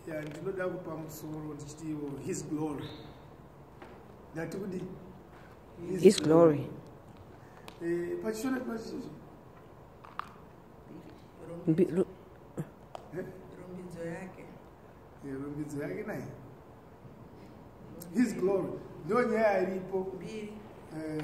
ya ndinoda kupa musoro ndichitiwo his glory ndati kudi his glory eh, pachishona pachii rumbidzo yake eh, rumbidzo yake naye his glory ndo nyaya iripo eh,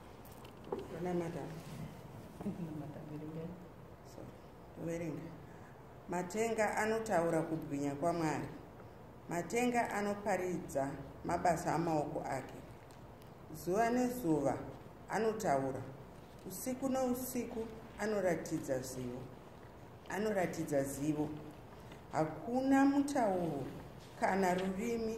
verenga matenga anotaura kubwinya kwamwari matenga anoparidza mabasa amaoko ake zuva nezuva anotaura usiku nousiku anoratidza zivo anoratidza zivo hakuna mutauro kana rurimi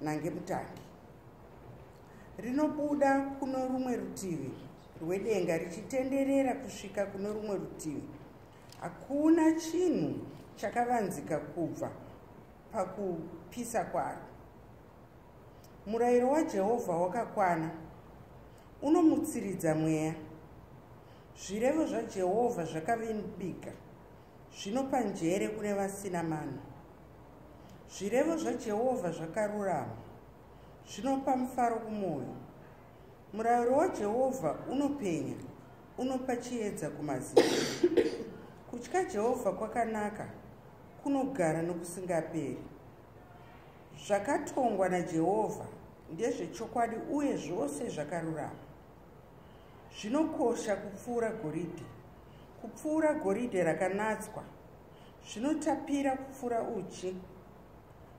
nange mutangi rinobuda kuno rumwe rutivi rwedenga richitenderera kusvika kuno rumwe rutivi hakuna chinhu chakavanzika kubva pakupisa kwaro murayiro wajehovha wakakwana unomutsiridza mweya zvirevo zvajehovha zvakavimbika zvinopa njere kune vasina mano Zvirevo zvaJehovha zvakarurama, zvinopa mufaro kumwoyo. Murayiro waJehovha unopenya, unopa chiedza kumaziso. Kutya Jehovha kwakanaka, kunogara nokusingaperi. Zvakatongwa naJehovha ndezvechokwadi uye zvose zvakarurama. Zvinokosha kupfuura goridhe, kupfuura goridhe rakanatswa, Zvinotapira kupfuura uchi,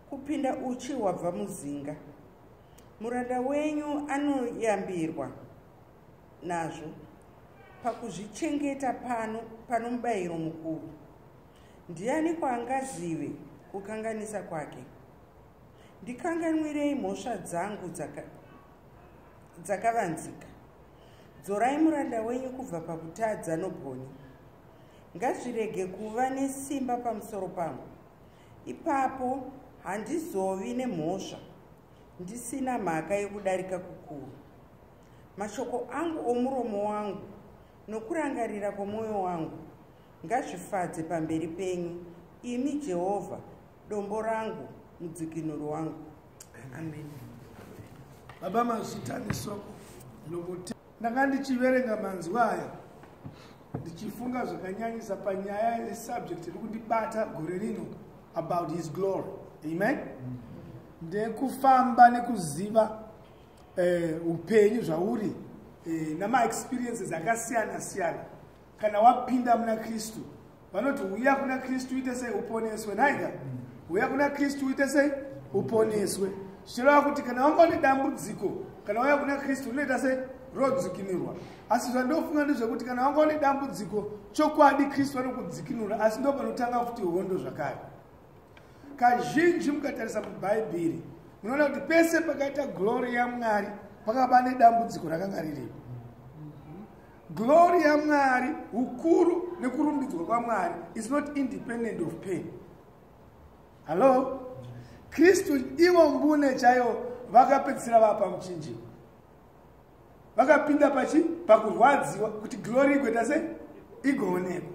kupinda uchi hwabva muzinga. Muranda wenyu anoyambirwa nazvo pakuzvichengeta pano pano mubayiro mukuru. Ndiani kwaangazive kukanganisa kwake? Ndikanganwirei mhosva dzangu dzakavanzika. Dzorai muranda wenyu kubva pakutadza nobwoni. ngazvirege kuva nesimba pamusoro pangu ipapo handizovi nemhosva ndisina mhaka yekudarika kukuru mashoko angu omuromo wangu nokurangarira kwomwoyo wangu ngazvifadze pamberi penyu imi jehovha dombo rangu mudzikinuri wangu amen baba mazvitanisoko nokuti ndanga ndichiverenga manzwi aya ndichifunga zvakanyanyisa panyaya yesubject iri kundibata gore rino about his glory amen ndekufamba nekuziva eh, upenyu zvauri eh, namaexperiences akasiyana siyana kana wapinda muna kristu vanoti huya kuna kristu uite sei uponeswe nhaika huya kuna kristu uite sei uponeswe zvichireva kuti kana wanga une dambudziko kana wauya kuna kristu rinoita sei rodzikinurwa asi zvandofunga ndezvekuti kana wanga une dambudziko chokwadi kristu vanokudzikinura asi ndo panotanga futi hondo zvakare kazhinji mukatarisa mubhaibheri munoona kuti pese pakaita glori yamwari pakava nedambudziko rakanga riripo Glory yaMwari, ukuru nekurumbidzwa kwaMwari is not independent of pain. Hello? Kristu ivo mbune chaivo vakapedzisira vapa muchinjiro. Vakapinda pachi pakurwadziwa kuti glory igoita sei? Igoonekwa.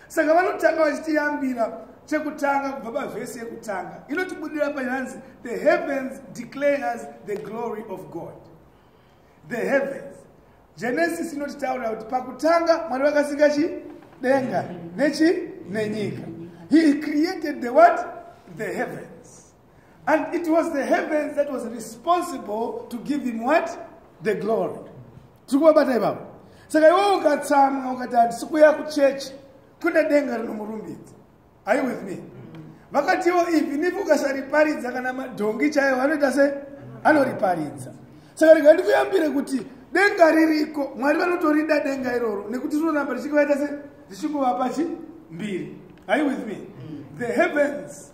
Saka vanotanga vachitiyambira chekutanga kubva pavhesi yekutanga inotibudira payanzi the heavens declares the glory of God. the heavens genesis inotitaurira kuti pakutanga mwari vakasika chi denga nechi nenyika he created the what the heavens and it was the heavens that was responsible to give him what the glory tiri kuvabata ivavo saka iwe ukatsamwa ukati handisi kuya kuchechi kune denga rinomurumbidza are you with me vakatiwo even if ukasariparidza kana madhongi chaiyo vanoita se anoriparidza saka rega ndikuyambire kuti denga ririko mwari vanotorida denga iroro nekuti rinoramba richingovaita se richingovapa chi mbiri are you with me the heavens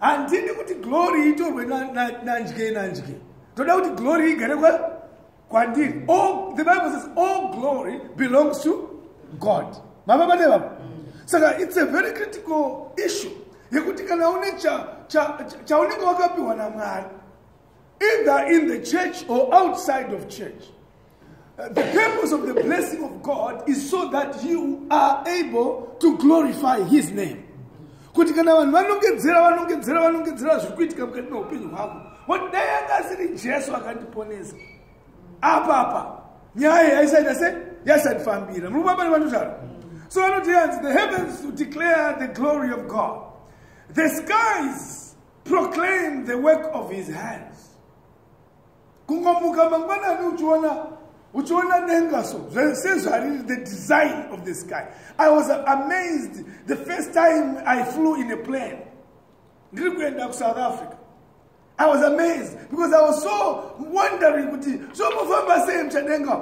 handidi kuti glory itorwe nandye nandye toda kuti glory igare kwandiri oh, the bible says all oh, glory belongs to god mava vane vavo saka it's a very critical issue yekuti kana une chaunenge wakapiwa namwari either in the church or outside of church. Uh, the purpose of the blessing of God is so that you are able to glorify His name. kuti kana vanhu vanongedzera vanongedzera vanongedzera zviri kuitika mukati meupenyu hwako voti dai anga asiri jesu akandiponesa apapa nyaya yaisaita se yaisandifambira muri kubabari vanotara so vanoti yanzi the heavens to declare the glory of god the skies proclaim the work of his hands kungomuka mangwanani uchiona uchiona denga so sezvariri the design of the sky i was amazed the first time i flew in a plane ndiri kuenda kusouth africa i was amazed because i was so wondering kuti zvomofamba sei muchadenga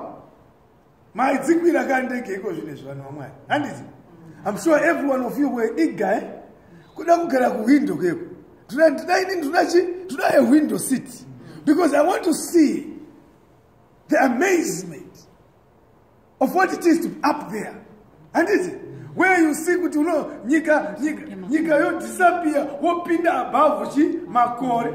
Mai dzikwira ka ndege iko zvine zvanhu vamwari. Handiti? I'm sure every one of you were eager eh? Kuda kugara ku window keko. Tuna tuna ini tuna chi tuna a window seat because I want to see the amazement of what it is to be up there. Handiti? where you see kuti uno nyika nyika nyika yo disappear wopinda above chi makore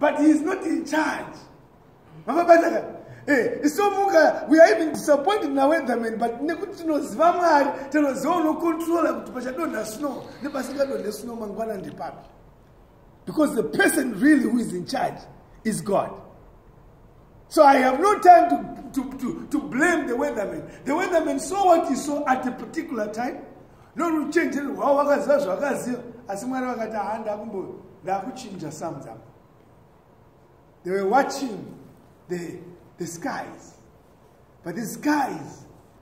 but he is not in charge mavabataka eh, isomuka we are even disappointed naweatherman but nekuti tinoziva mwari tinoziva unocontrola kuti pachadonha snow nepasingadonhe snow mangwana ndepapi because the person really who is in charge is god So I have no time to, to, to, to blame the weatherman. The weatherman saw what he saw at a particular time. No ruchenjeri rwawo vakaziva zvavakaziva asi mwari vakati haa ndakumbo ndakuchinja sums apa they were watching the, the skies but the skies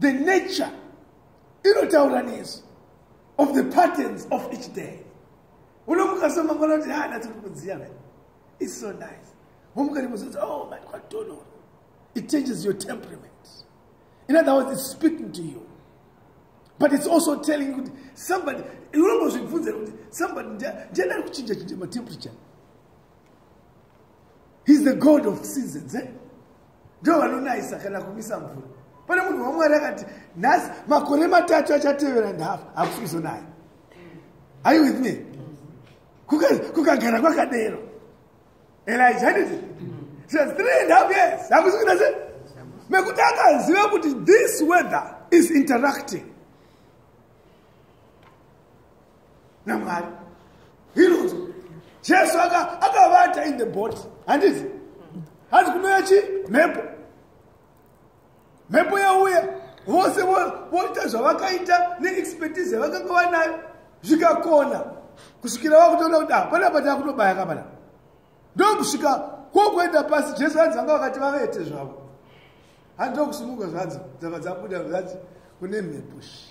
the nature inotaura nezvi of the patterns of each day unomuka so mangwana kuti ha natsi kuti kudziya ve its so nice womuka rimuzoti oh man kwatonoro it changes your temperament in other words its speaking to you but its also telling you kuti somebody unongozvibvunzira kuti somebody ndiadari kuchinja chinja matemperature he's the god of seasons eh? ndivo vanonayisa kana kumisa mvura pane munhu wamwari akati nhasi makore matatu achatevera ndafa hakusi kuzonaya are you with me kukagara kwakadero elija nditi says three and half years hakusi kuita se mekuti akaziva kuti this weather is interacting namwari inonzi jesu akavata in the body handizi hanzi kunouya chi mhepo mhepo yauya vose voita zvavakaita neexpertise yavakanga vanayo zvikakona kusvikira vakutoona kuti hapana ah, pataa kutobaya kapana ndokusvika kwokuenda pasi jesu hanzi vanga vakati vavete zvavo hanzi ndokusumuka zvanzi dzava dzabuda zvanzi kune mhepo shi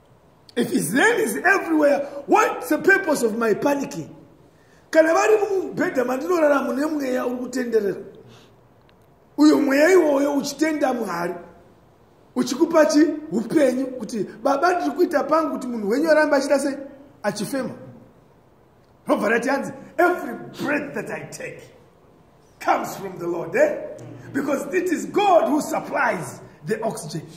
If his name is everywhere, what's the purpose of my panicking? Kana vari mubhedha mandinorara mune mweya uri kutenderera. Uyo mweya iwoyo uchitenda Mwari. Uchikupa chi upenyu kuti baba ndiri kuita pangu kuti munhu wenyu arambe achida sei achifema. Robva rati hanzi every breath that I take comes from the Lord, eh? Because it is God who supplies the oxygen.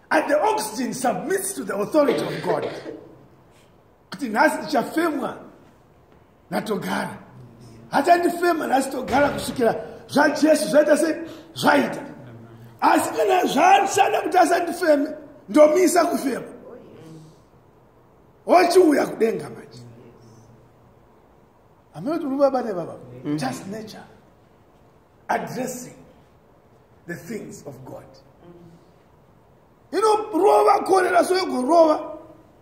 and the oxygen submits to the authority of god kuti nhasi ndichafemwa natogara hachandifema nhasi togara kusvikira zvajesu zvaita sei zvaita asi kana zvaashanda kuti asandifeme ndomisa kufema ochiuya kudenga manje amene kuti unobaba nebaba just nature addressing the things of god inorova korera so yogorova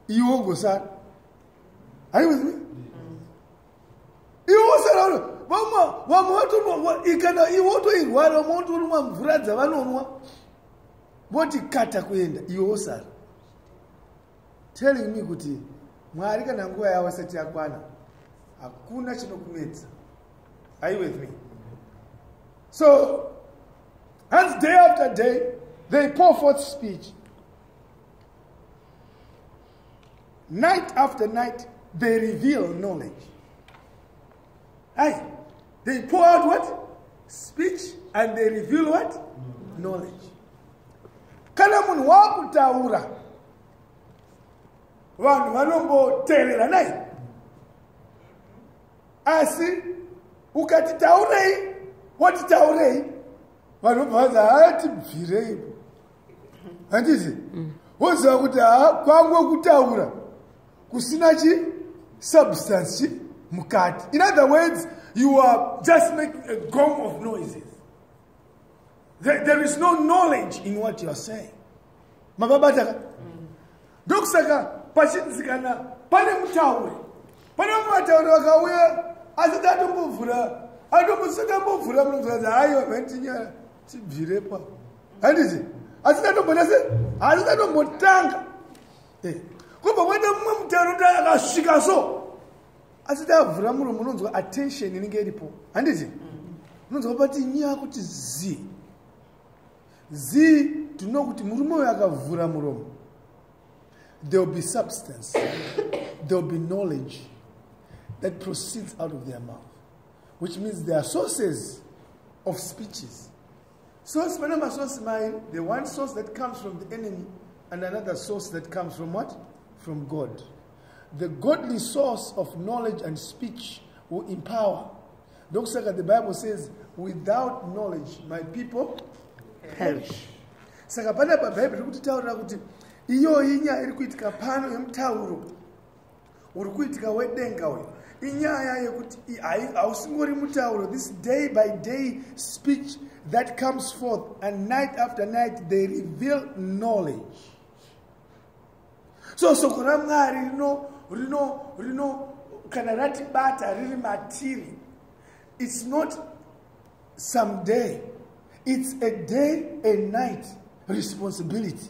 iwe ogosara are you with me iwe osara vamwe vamwe vatonwa ikana iwe otoirwara vamwe votonwa mvura dzavanonwa voti kata kuenda iwe osara telling me kuti mwari kana nguva yavo isati yakwana hakuna chinokunetsa are you with me so hanzi day after day they pour forth speech night after night they reveal knowledge Hey, they pour out what? Speech and they reveal what? Knowledge. Kana munhu wakutaura vanhu vanongoteerera nai asi ukati taurei woti taurei vanhu vobva vanzi haatibvirei handiti woziva kuti haa kwangu kutaura kusina chi substance chi mukati in other words you are just making a gong of noises there, there is no knowledge in what you are saying mavabataka ndokusaka pachinzi kana pane mutauri pane vamwe vatauri vakauya asati atombovhura atombosati ambovhura munozoati hayi vanhu vanitinyaya tibvirepo handiti asati atombonase asati atombotanga eh, kobva kwaita mumwe mutero dai akasvika so asi dai avhura muromo unonzwa attention inenge iripo handiti unonzwa pati nyaya kuti zii zii tinoda kuti murume uyo akavhura muromo there will be substance there will be knowledge that proceeds out of their mouth which means their sources of speeches Source, pana masource mai, the one source that comes from the enemy and another source that comes from what? From God. The godly source of knowledge and speech will empower. Ndokusaka the Bible says, without knowledge my people perish. Saka pana pa Bible kuti taura kuti iyoyi nyaya iri kuitika pano yemutauro uri kuitika wedenga uyu inyaya yekuti hausingori mutauro this day by day speech that comes forth and night after night they reveal knowledge so soko ramwari rino rino rino kana ratibata riri matiri it's not some day it's a day and night responsibility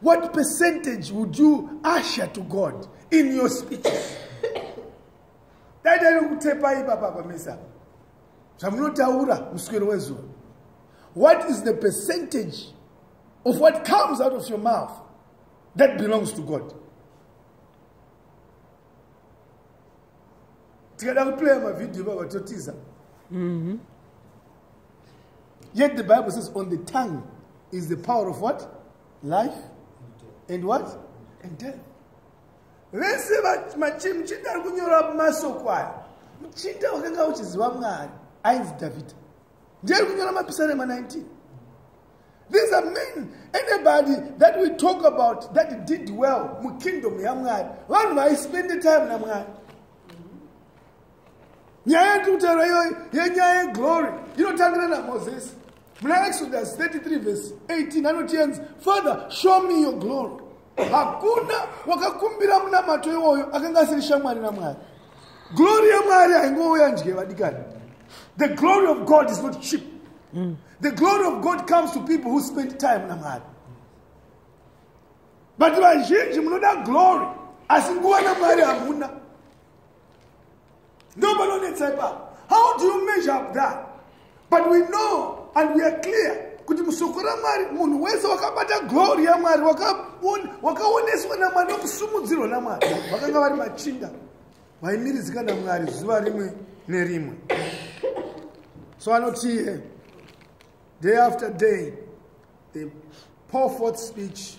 What percentage would you usher to God in your speeches? Daita nekutepa ipapa pamesa zvamunotaura muswero wezuva. What is the percentage of what comes out of your mouth that belongs to God? tikada kuplaya mavhidhiyo ivava totiza mhm. yet the bible says on the tongue is the power of what life and what and death vese machimuchinda ari kunyora masoko aya muchinda wakanga uchiziva mwari ainzi dhavhidha ndiye ari kunyora mapisarema 19 These are men, anybody that we talk about that did well mu kingdom yaMwari, vanhu vaispende time naMwari. Nyaya yatutaura iyoyi yenyaya yeglory inotangira naMoses. Muna Exodus 33 verse 18 anoti yenzi, Father, show me your glory. hakuna wakakumbira munamato iwoyo akanga asiri shamwari namwari glori yamwari haingouya ndye vadikani the glory of god is not cheap mm. the glory of god comes to people who spend time namwari but vazhinji munoda glory asi nguva namwari hamuna No panonetsa ipapo. How do you measure up that? But we know and we are clear kuti musoko ramwari munhu wese wakabata glory yamwari wakaoneswa namwari nokusumudzirwa namwari vakanga vari machinda vaimiridzika namwari zuva rimwe nerimwe so anotiye day after day they pour forth speech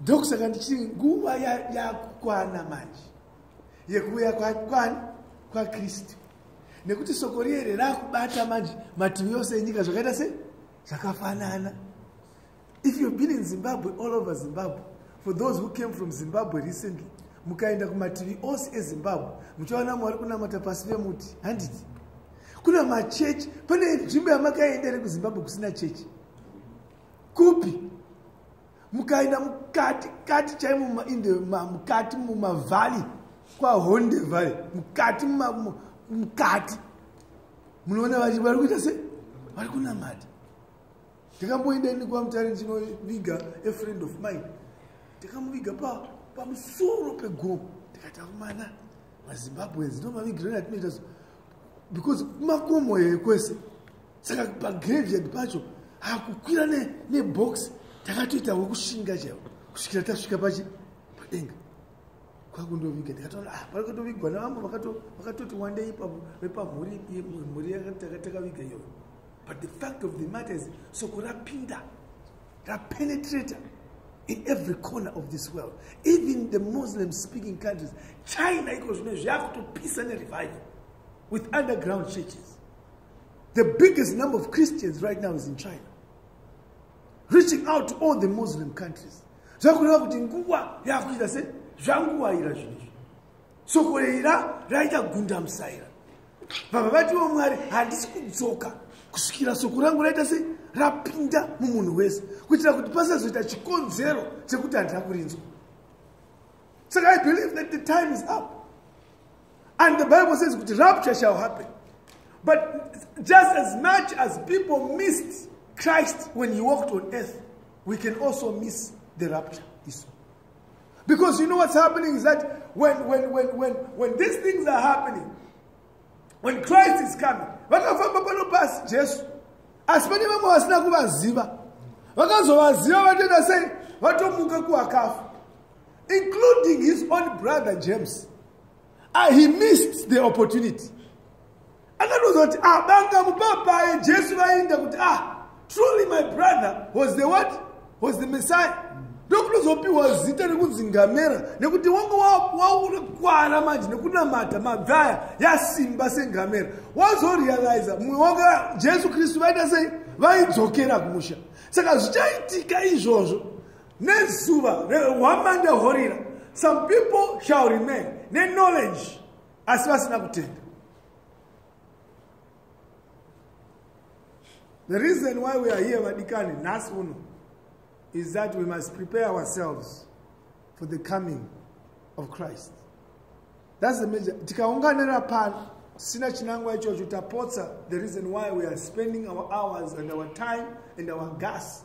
ndokusaka ndichiti nguva yakukwana ya manje yekuuya kwakwani kwakristu nekuti soko riere rakubata manje mativi yose enyika zvakaita se zvakafanana if you've been in zimbabwe all over zimbabwe for those who came from zimbabwe recently mukaenda kumativi ose ezimbabwe muchaona mwari kunamata pasi vemuti handiti kuna machechi pane nzvimbo yamakaenda ere kuzimbabwe kusina chechi kupi mukaenda mukati kati chaimo mumainde mukati mumavhali kwahonde vhali mukati mukati munoona vachi vari kuita se vari kunamata ndikamboenda ini kwamutari ndinoviga a friend of mine ndikamuviga pamusoro pa pegomo ndikati akumana mazimbabweans ndomavigirani atinoita so because makomo here kwese saka pagraveyard pacho hakukwira nebox takatoita wekushinga chaivo kusvikira tasvika pachi padenga kwakundoviga ndikatoona ah, parikatovigwa navamwe vakatoti wandei vepamhuri mhuri yatakaviga iyoyo but the fact of the matter is soko rapinda rapenetrator in every corner of this world even the muslim speaking countries china iko zvino zvakutopisa nerevival with underground churches The biggest number of Christians right now is in China. Reaching out to all the Muslim countries. Zvakureva kuti nguva yakuita se zvanguva ira zvinhu izvi. Soko ira raita gunda musaira. Baba vatiwo Mwari handisi kudzoka kusvikira soko rangu raita se rapinda mumunhu wese kuitira kuti pasazoita chikonzero chekuti handina kurinzwa. Saka I believe that the time is up. And the Bible says kuti rapture shall happen. But just as much as people missed Christ when he walked on earth, we can also miss the rapture. Because you know what's happening is that when, when, when, when, when these things are happening, when Christ is coming, vakafamba pano pasi Jesu asi pane vamwe vasina kuvaziva vakazovaziva vatoita sei vatomuka kuwakafa including his own brother James uh, he missed the opportunity akatoudza kuti ah banga mupapaye Jesu vainda kuti ah truly my brother was the what was the messiah ndokutozopiwa zita rekunzi ngamera nekuti wanga wakukwara manje nekunamata mabvaya yasimba sengamera wazorealiza mumwe wanga jesu kristu vaita sei vaidzokera kumusha saka zvichaitika izvozvo nezuva rehwamande horira some people shall remain neknowledge asi vasina kutenda the reason why we are here vadikani nhasi uno is that we must prepare ourselves for the coming of christ thats the major tikaunganira pano sina chinangwa ichocho tapotsa the reason why we are spending our hours and our time and our gas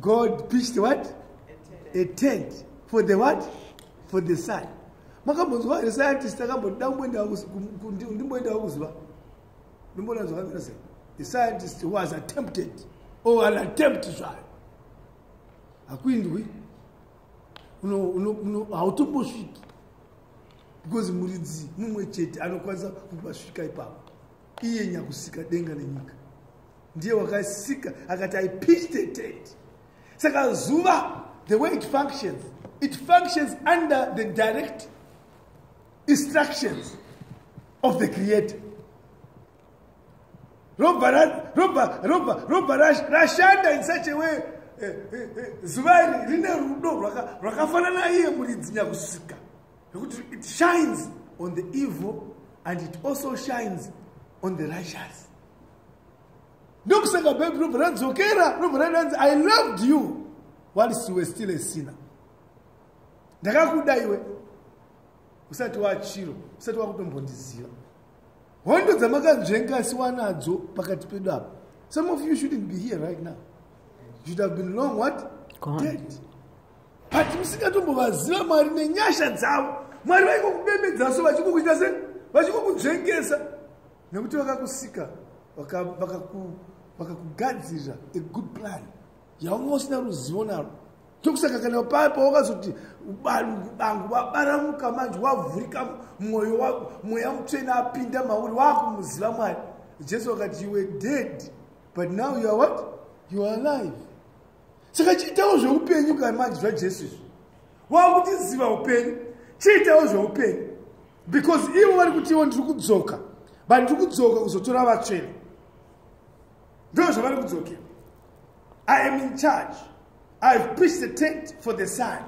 God pitched what? A tent. For the what? For the sun. Makambonzwa here scientist akamboda kumboendawo ndimboendawo kuzuva? Ndimboona zvakamira sei? The scientist was attempted or an attempt zvayo. Hakuindwi. Hautombosviki. Because muridzi mumwe chete anokwanisa kukupa svika ipapo. Iye nyakusika denga nenyika. ndiye wakasika akati i pitched a tent saka zuva the way it functions it functions under the direct instructions of the creator robva robva robva robva rashanda in such a way eh, eh, eh, zuva iri rine rudo rwakafanana iye muridzi nyakusika nekuti it shines on the evil and it also shines on the righteous ndokusaka bhaibheri robva radzokera robva rananzi i loved you whilst you were still a sinner ndakakuda iwe usati wachiro usati wakutombondiziva hondo dzamakanzvenga asi wanadzo pakati pedu apa some of you shouldn't be here right now you should have been long what dead but musingatombovaziva mwari nenyasha dzavo mwari vaingokubemedzo vachikukuita se vachikukunzvengesa nekuti vakakusika vakakugadzirira a good plan yaunga usina ruzivo naro tokusaka kana paya pawakazoti bangu vabaramuka manje wavhurika mwoyo wako mweya mutsvena apinda mauri waakumuziva mwari jesu wakati you were dead but now you are what you are alive saka chiitawo zveupenyu kana manje zvajesu izvi waakutiziva upenyu chiitawo zveupenyu because ivo vari kutiwo ndiri kudzoka but ndiri kudzoka kuzotora vatsvene ndo zvavari kudzokera i am in charge ihave preached the tent for the sun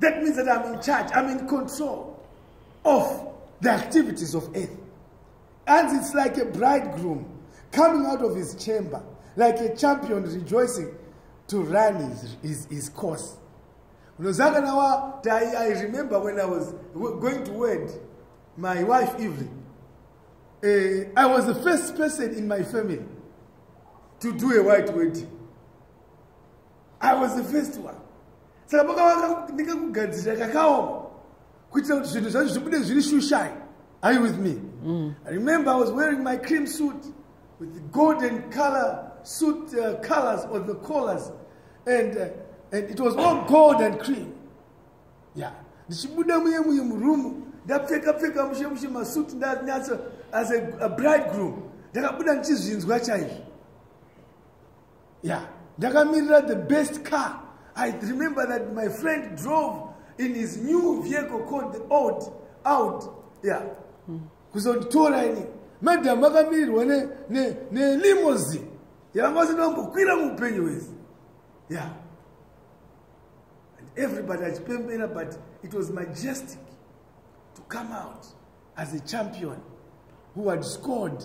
that means that iam in charge iam in control of the activities of earth and it's like a bridegroom coming out of his chamber like a champion rejoicing to run his, his, his course unoziva kana wati i remember when i was going to word my wife evelyn uh, i was the first person in my family to do a white wedding i was the first one saka pakavaka ndikakugadzirira kakaoma kuitira kuti zvinhu zvacho zvibude zviri shushai are you with me mm. i remember i was wearing my cream suit with the golden color suit uh, colors or the collars and, uh, and it was all gold and cream ya yeah. ndichibuda muye muye murumu ndapfeka pfeka mushe mushe masuit ndanyatsa as a, a bridegroom ndakabuda ndichizvinzwa chaizvo yeah ndakamirira the best car i remember that my friend drove in his new vehicle called the old out yeah mm. kuzonditora ini madam vakamirirwa nelimosin yavanga vasati vambokwira muupenyu wese ya and everybody achipembera but it was majestic to come out as a champion who had scored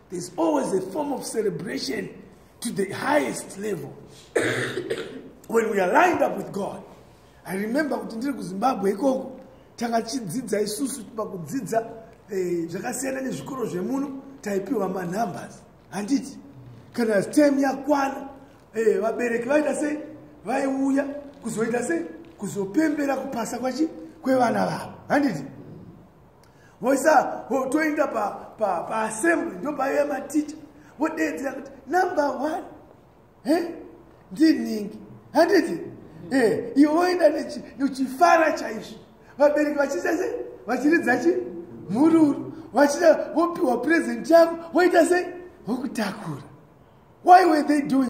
There's always a form of celebration to the highest level. When we are lined up with God, I remember kuti ndiri kuZimbabwe ikoko takachidzidza isusu pakudzidza eh, zvakasiyana nezvikoro zvemuno taipiwa manumbers handiti kana stem yakwana eh, vabereki vaita sei vaiuya kuzoita sei kuzopembera kupasa kwachi kwevana vavo handiti voisa toinda paassembly pa, pa ndopaive maticha vodeedzera kuti number one he ndinhingi handiti e eh, ivo voenda nechifara chaizvo vabereki vachiita sei vachiridza chi mhururu vachida vopiwa present yavo voita sei vokutakura why were they doing